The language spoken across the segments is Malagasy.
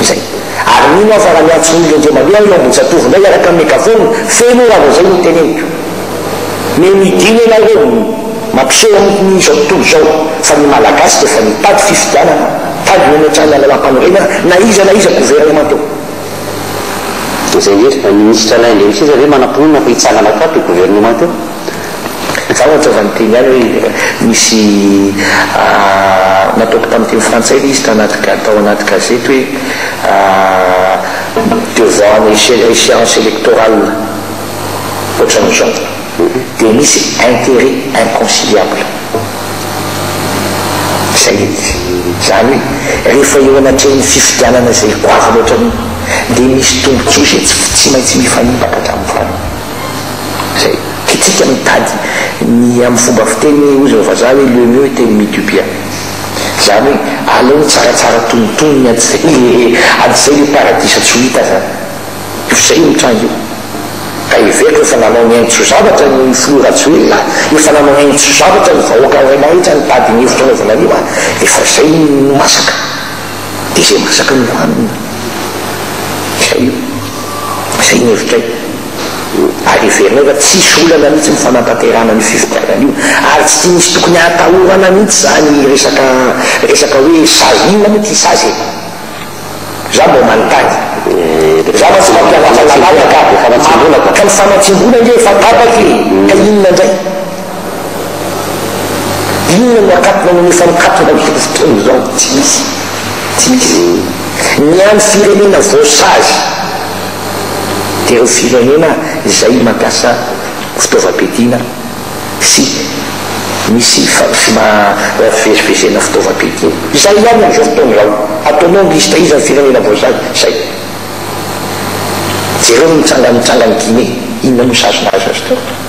izay. Ary mino aho fa raha miantso ny olona indray mandeha aho eo Ambohijatovo indray hiaraka amin'ny megafona feno raha vao izay no teneniko. Me midina ianareo no mampiseho amiko ny izao tontolo izao fa ny Malagasy dia efa nitady fifidianana tadiny hametrahana lalam-panorenana na iza na iza governemanta eo. Dia izay irery, ny minisitra Alain Andriamiseza ve manam-pinoana fa hitsangana aoka ato io governemanta io? Izaho aza efa niteny ihany hoe nisy nataoko tamin'ny teny frantsay ilay izy tanaty ga- tao anaty gazety hoe devant ny éche- échéance électorale ohatran'izao dia misy intérêt inconciliable. Izay e. Izany hoe rehefa eo anatrehan'ny fifidianana izay goavana ohatran'iny dia misy tombontsoa izay tsy tsy maintsy mifanipaka hatramin'ny farany. Izay tiantsika mitady ny amin'ny fomba fiteny hoy izao vazaha hoe le mieux était le mi du bien. Izany hoe aleo ny tsaratsara tonitony ny atsy le atsy le paradisa tsy ho hita izany. Io f'izay io mitranga io. Ka heveriko efa nanao ny haintso-zavatra ny filoha Rajoelina a! Efa nanao haintso-zavatra ny vahoaka iray mahetra nitady ny hevitra anaovana an'io a! Efa izay no masaka. dia izay masaka no hanina. Izay io. Izay ny hevitray. Ary heverinay fa tsy hisy olana mihitsy ny fanatanterahana an'io fifidianana io. Ary tsy misy tokony hahatahorana mihitsy izany resaka resaka hoe sazy. Inona moa ity sazy e? Izaho mba manontany. Izaho mantsy mampianatra lalàna ka. Efa natsingona ka. Ka ny fanatsingona ange efa tapaka e! Ka inona indray? Inona no akatona no efa nikatona amin'izao fotoana izao? Tsy misy. Tsy misy izay hoe ny an'ny firenena voasazy dia ireo firenena izay mampiasa fitaovam-piadiana sy misy fivezivezena fitaovam-piadiana. Izay ihany amin'izao fotoana izao. Ataonao ny liste iza ny firenena voasazy? Izay. Jereo ny nitsangan'ny Guinée, inona no sazy nahazo azy teo?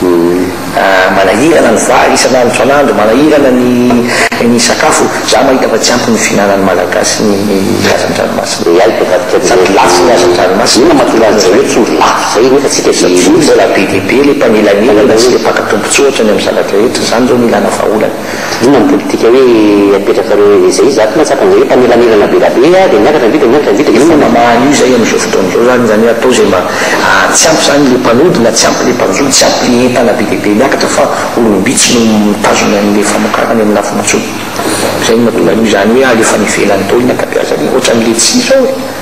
Dia. Manahirana ny vary isan'andro isan'andro, manahirana ny ny sakafo, za mahita fa tsy ampy ny fihinanan'ny Malagasy ny hazan-dranomasina. Dia hay hivadika amin'izay. Sady lafo ny hazan-dranomasina. Inona no mahatonga an'izay hoe tsy ho lafo izay nefa isika efa tsy ho lafo. Mbola be dia be ilay mpanelanelana sy ilay mpaka tombontsoa ohatra ny amin'ny zavatra rehetra, izany izao no ilana vahaolana. Inona ny politika hoe apetrakareo eo izay? Izaho tena tsapany izay hoe mpanelanelana be rabe a, dia miakatra indray dia miakatra indray dia inona no. Efa mamaha an'io izay amin'izao fotoana izao izany, izany hoe atao izay mba tsy ampy izany ilay mpanody na tsy ampy ilay mpanjono, tsy ampy ilay entana be dia be miakatra fa olom-bitsy no mitazona an'ilay famokarana eny amin'ny lafim-bontsoana. Izay no mahatonga an'io izany hoe alefa any ivelany daholo ny ankabeazany, ohatran'ilay tsy izao e.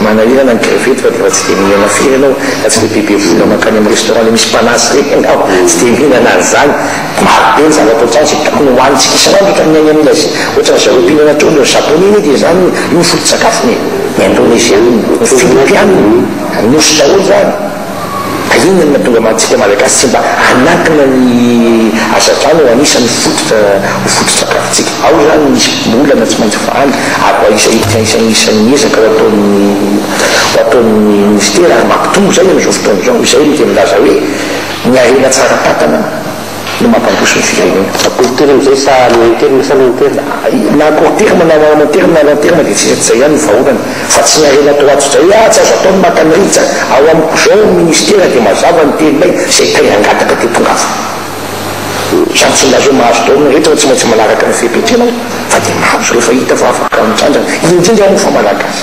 Manahirana ny crevette fa dia tsy dia mihinana firy ianao raha tsy ilay bebe vola mankany amin'ny restaurant ilay misy mpanazy ireny ianao, tsy dia mihinana an'izany. Maro be ny zavatra ohatr'izany izay tokony hohanintsika isan'andro eto amin'ny Any Aminy Azia. Ohatran'ny ry zareo mpihinana trondro any Japone anie dia izany io foto-tsakafony e! Ny Indoneziana, ny Filipiana, ny Nosy daholo izany. Inona no mahatonga antsika Malagasy tsy mba hanakana ny hazavana ho anisan'ny fototra ho foto-tsakafontsika? Ao izany no misy olana tsy maintsy faly ary mba isan'ny ezaka ho ataon'ny ho ataon'ny Minisitera ary mampitombo izay amin'izao fotoana izao, izay no dia milaza hoe ny harena tsara tantana, no mampandroso ny firenena. Akoronterina amin'izay sa loha interina sa loha interina? Na akoronterina na loha interina na loha interina dia tsy mety izay ihany ny vahaolana fa tsy ny harena toa ato izay ah tsy azo atao ny maka ny rija ao amiko izao ny ministera dia mazava ny teninay izay tay nangataka dia tongava izany tsy milaza hoe mahazo daholo ny rehetra fa tsy maintsy manaraka ny fepetra ianao fa dia mahazo rehefa hita fa afaka mitrandrana indrindra moa fa malagasy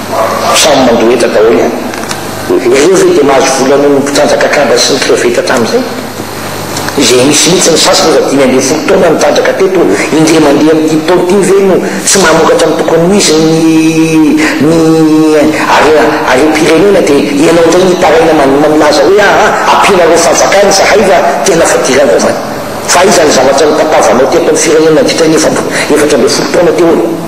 samy mandoheta daholo ihany. Ianareo ve dia mahazo vola noho ny mpitrandraka kamba sy ny kreveta tamin'izay? Izay misy mihitsy ny sasany efa dimy ambin'ny folo taona nitrandraka teto indray mandeha amin'ity taona ity ve no tsy mamokatra ny tokony ho izy ny ny are arem-pirenena dia ianao indray ny hitaraina man milaza hoe aa ampianareo fanjakana izahay fa tena fadiranareo fa fa aiza ny zavatra notapavanao teto amin'ny firenena nandritra ny efatra efatra ambin'ny folo taona teo aloha?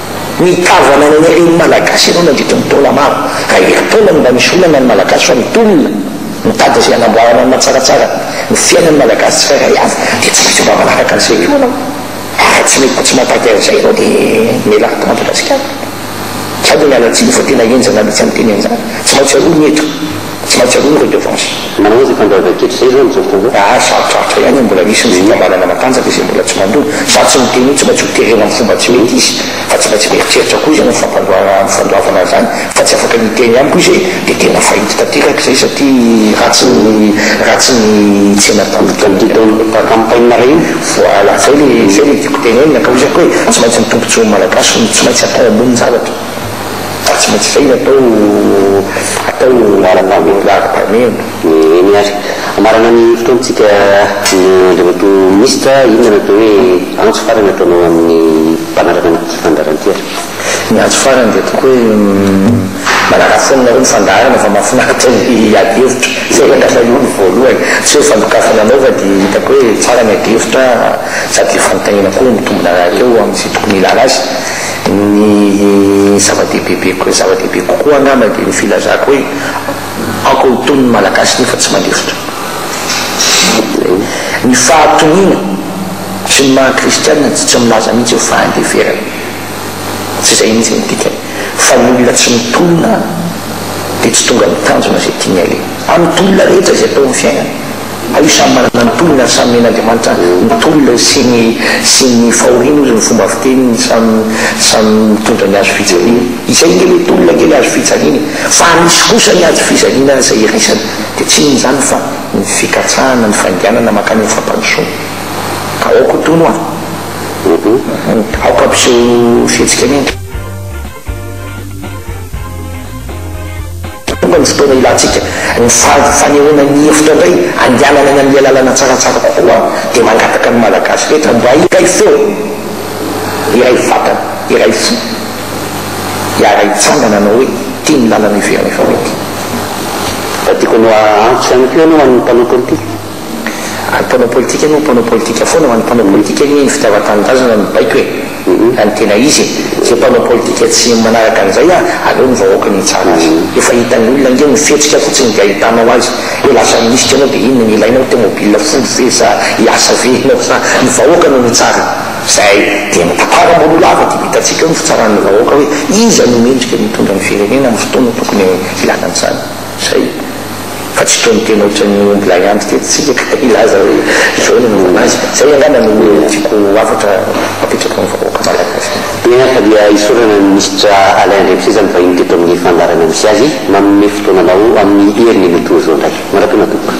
Ny tavy ananan'ny reny malagasy ianao nandritra ny taona maro, raha herintaona no mba misy olana ny malagasy fa mitolona mitady izay hanamboarana ny mahatsaratsara ny fiainan'ny malagasy tsirairay avy dia tsy maintsy mba manaraka an'izay koa ianao ary raha tsy mety koa tsy mahatady an'izay ianao dia mialà ato Madagasikara. Izaho dia miala tsiny fa tena henjana mihitsy ny teny an'izany. Tsy maintsy aroa ny eto. Tsy maintsy aloha ny redevance. Manao aiza fa ndraindray kitra izay izany izao fotoana izao? Ary sarotrarotra ihany ny mbola misy ny fikambanana matanjaka izay mbola tsy mandona. Za tsy miteny hoe tsy maintsy ho terena amin'ny fomba tsy mety izy fa tsy maintsy mieritreritra koa izy amin'ny fampandoavana amin'ny fandoavana an'izany fa tsy afaka niteny amiko izy hoe dia tena fahity tanteraka izay satria ratsy ny ratsy ny tsena tamiko tamin'iny andro iny. Tamin'ity campagne iray iny? Voilà, izay ilay izay ilay tiako tenenina ka hoy izy aky hoe tsy maintsy ny tombontsoan'ny Malagasy no tsy maintsy atao ambony ny zavatra. Fa tsy maintsy saina atao atao ara-pahamehana ara-pahamehana. Eny ary. Hamarana ny fotoantsika Andriamatoa Minisitra, inona no atao hoe antso farany ataonao amin'ny mpanaraka ny fandaharan-tera? Ny antso farany dia ataoko hoe manaraha foana nareo ny fandaharana fa mahafinaritra ny ady hevitra. Izay aloha no voalohany. Tsy hoe fandokafana anao fa dia hitako hoe tsara ny ady hevitra sady fanontaniana koa mitombina rahateo amin'izay tokony hilàna azy. Ny zava-dehibebe ko, zava-dehibe kokoa angamba dia ny filazako hoe aoka ho tony ny Malagasy nefa tsy mandefitra. Ny fahatoniana sy ny maha kristianina dia tsy milaza mihitsy hoe fahandeferana. Tsy izay mihitsy ny dikany fa ny olona tsy mitolona dia tsy tonga amin'ny tanjona izay tiany aleha. Amin'ny tolona rehetra izay atao amin'ny fiainana. Aleo samy manana ny tolony ary samy omen'Andriamanitra ny tolony sy ny sy ny fahoriany hozy ny fomba fiteniny samy samy mitondra ny azo fijaliany. Izay ange le tolona ange le azo fijaliana e! Fa misy kosa ny azo fijaliana izay iraisana dia tsy inona izany fa ny fikatsahana ny fainganana mankany amin'ny fampandrosoana. Ka aoka ho tono an! Aoka ampiseho fihetsika miainga. Tonga ny fotoana ilantsika ny fanehoana ny hevitra indray handehanana any amin'ilay lalana tsaratsara kokoa dia mangataka ny Malagasy rehetra mba hiray feo, hiray vatana, hiray fo, hiara hitsangana hanao hoe ity ny lalana iveren'ny fahoriana. Raha tiako hanao antso ihany koa ianao ho an'ny mpanao politika. Ary mpanao politika aloha mpanao politika foana ho an'ny mpanao politika anie ny fitiavan-tanindrazana no baiko e! Raha ny tena izy e! Izay mpanao politika tsy manaraka an'izay a! Aleo ny vahoaka no hitsara azy! Efa hitan'ny olona ange ny fihetsika fotsiny dia ahitanao azy hoe lasa minisitra ianao dia inona no ilainao tmobile folo ve sa hiasa ve ianao sa ny vahoaka no mitsara izay dia mitantara ambonin'olava dia hitantsika eo ny fitsaran'ny vahoaka hoe iza no mendrika ny hitondra ny firenena amin'ny fotoana tokony hilana an'izany. Izay, fa tsy toy ny teny ohatran'ny omby lahy antitra eto isika ka hilaza hoe izao no momba azy. Izay angamba no tiako ho hafatra apetrako amin'ny vahoaka malagasy. Eny ary fa dia hisaorana ny Minisitra Alain Andriampiseza nivahiny teto amin'ny fandaharana misy azy, manome fotoananao amin'ny heriny mitohy izao indray. Mandra-poana tompoko.